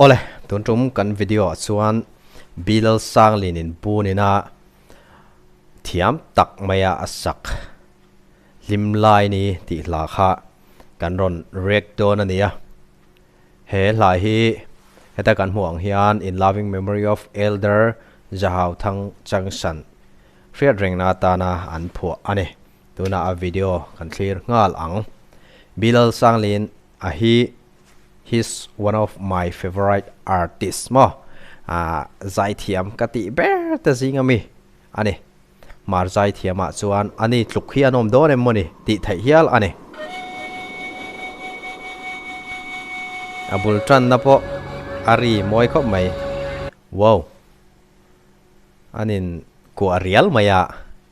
Awle, tun tum kan video ah chuan Bilal Sanglin in bunin a thiam tak mai a a sak hlim lai ni tih hla kha kan rawn react dawn a ni a. He hla hi heta kan hmuh ang hian In Loving Memory of Elder Zahauthang Changsan hriat reng na atana an phuah a ni. Tunah a video kan thlir nghal ang. Bilal Sanglin. A hi he's one of my favourite artist maw aah zaithiam ka tih ber te zing a mi a ni. Mar zaithiamah chuan a ni tluk hi an awm dawn em maw ni tih theih hial a ni. A bul tanna pawh a ri mawi khawp mai. Wow! An in kuah rial mai a.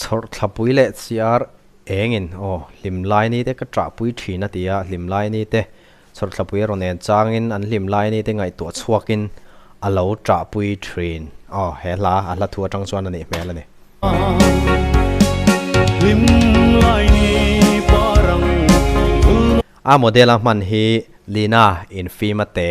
Chhawrhthlapui leh chiar engin aw hlim lai ni te ka chahpui thin a ti a, hlim lai ni te chhawrhthlapui a rawn en changin an hlim lai ni te ngaihtuah chhuakin a lo chahpui thin aw he hla a hla thu atang chuan a nih hmel a ni. A model a hman hi Lina Infima Te.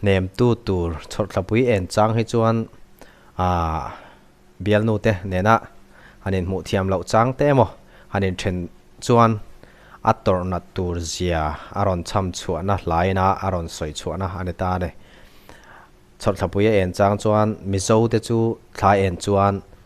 Hnemtu tur chhawrhtlapui en chang hi chuan aah bialnute nena han inhmuh thiam loh chang te emaw han inthen chuan a tawrh nat tur zia a rawn chham chhuahna hlaina a rawn sawi chhuahna a ni ta ni. Chhawrhthlapuia en chang chuan Mizote chu thlai en chuan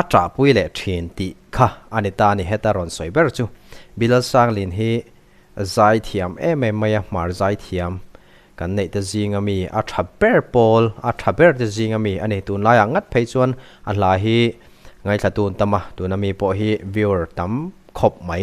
A ṭahpui leh ṭhin tih kha a ni ta a ni heta rawn sawi ber chu. Bilalsanglin hi zai thiam em em mai a, hmar zai thiam kan neih te zing a mi, a ṭha ber pawl, a ṭha ber te zing a mi a ni. Tunlai ah ngat phei chuan a hla hi ngaithla tun tam a, tuna mi pawh hi viewer tam khawp mai.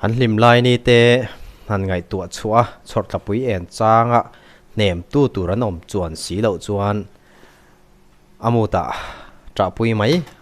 Han hlim lai ni te han ngaihtuah chhuah a, chhawrhtlapui en changa hnem tu tur an awm chuan si loh chuan a mutah ṭahpui mai.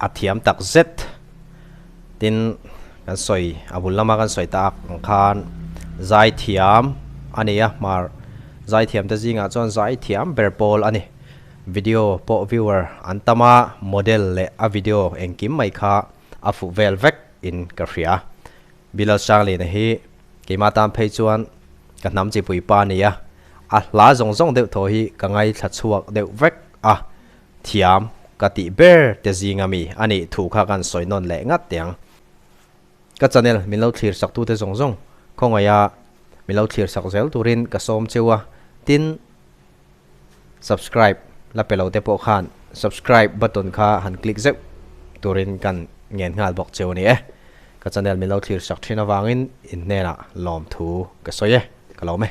A thiam tak zet. Tin kan sawi a bul lama kan sawi ta ak ang khan zai thiam a ni a hmar zai thiam te zingah chuan zai thiam ber pawl a ni. Video pawh viewer an tam a model leh a video engkim mai kha a fuh vel vek in ka hria. Bilal Changlina hi keimah tan phei chuan ka hnam chipui pa a ni a, a hla zawng zawng deuh thaw hi ka ngaithla chhuak deuh vek a. Thiam, ka tih ber te zinga mi a nih thu kha kan sawi nawn leh ngat te ang. Ka channel min lo thlir saktu te zawng zawng khawngaia min lo thlir sak zel turin ka sawm cheu a, tin subscribe la pe lo te pawh khan subscribe button kha han click zeuh turin kan ngen nghal bawk cheu a ni e. Ka channel min lo thlir sak thin avangin in hnenah lawmthu ka sawi e, ka lawm e.